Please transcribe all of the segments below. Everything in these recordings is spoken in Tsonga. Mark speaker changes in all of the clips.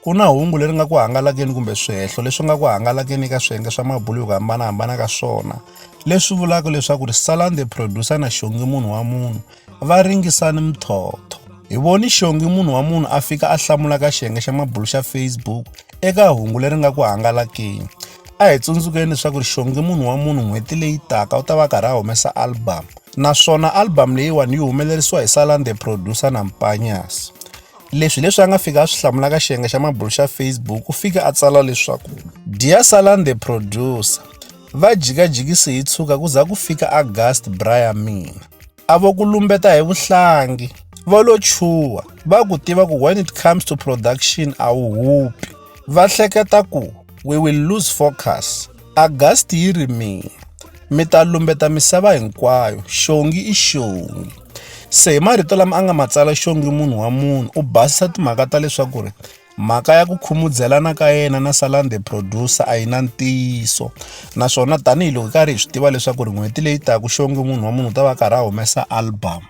Speaker 1: Ku na hungu leri nga ku hangalakeni kumbe swihehlo leswi nga ku hangalakeni eka swiyenge swa mabulo hi ku hambanahambana ka swona leswi vulaka leswaku ri Salani the Producer na Xongi Munhu wa Munhu va ringisani muthotho. Hi voni Xongi Munhu wa Munhu a fika a hlamula ka xiyenge xa mabulo xa Facebook eka hungu leri nga ku hangalakeni. A hi tsundzukeni leswaku ri Xongi Munhu wa Munhu n'hweti leyi taka u ta va karhi a humesa album naswona album leyiwani yi humelerisiwa hi Salani the Producer na Mpanyas. Leswi hi leswi a nga fika a swi hlamula ka xiyenge xa mabulu xa Facebook u fike a tsala leswaku Dear Salan the producer va jikajikisi hi tshuka ku za ku fika August bra ya mina a vo ku lumbeta hi vuhlangi va lo chuha va ku tiva ku when it comes to production a wu hupi va hleketa ku we will lose focus August yi ri mi mi ta lumbeta misava hinkwayo xongi i xongi se hi marito lama a nga ma tsala xongi munhu wa munhu u basisa timhaka ta leswaku ri mhaka ya ku khumudzelana ka yena na salan the producer a yi na ntiyiso naswona tanihiloko hi karhi hi swi tiva leswaku ri n'hweti leyi taku xongi munhu wa munhu u ta va karhi a humesa album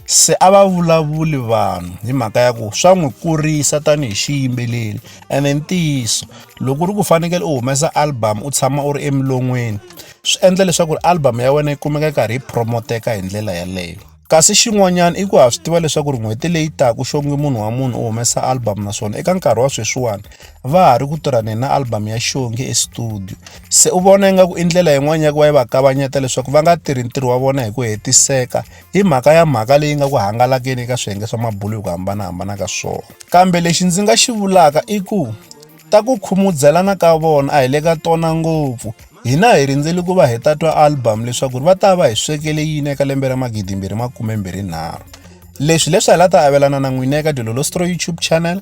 Speaker 1: se a va vulavuli vanhu hi mhaka ya ku swa n'wi kurisa tanihi xiyimbeleri ene i ntiyiso loko u ri ku fanekele u humesa album u tshama u ri emilon'weni swi endla leswaku ri album ya wena yi kumeka yi karhi yi promoteka hi ndlela yaleyo kasi xin'wanyana i ku ha swi tiva leswaku ri n'hweti leyi taka xonge munhu wa munhu u humesa album naswona eka nkarhi wa sweswiwani va ha ri ku tirhaneni na album ya xonge estudio se u vona ingaku i ndlela yin'wani ya ku va yi va kavanyeta leswaku va nga tirhi ntirho wa vona hi ku hetiseka hi mhaka ya mhaka leyi nga ku hangalakeni eka swiyenge swa mabulo hi ku hambanahambana ka swona kambe lexi ndzi nga xi vulaka i ku ta ku khumudzelana ka vona a hi le ka tona ngopfu hina hi rindzeli ku va hi ta twa album leswaku va ta va hi swekele yini eka lembe ra magidimbirhi makumembirhinharhu leswi leswi hi la ta avelana na n'wina eka dilolostro youtube channel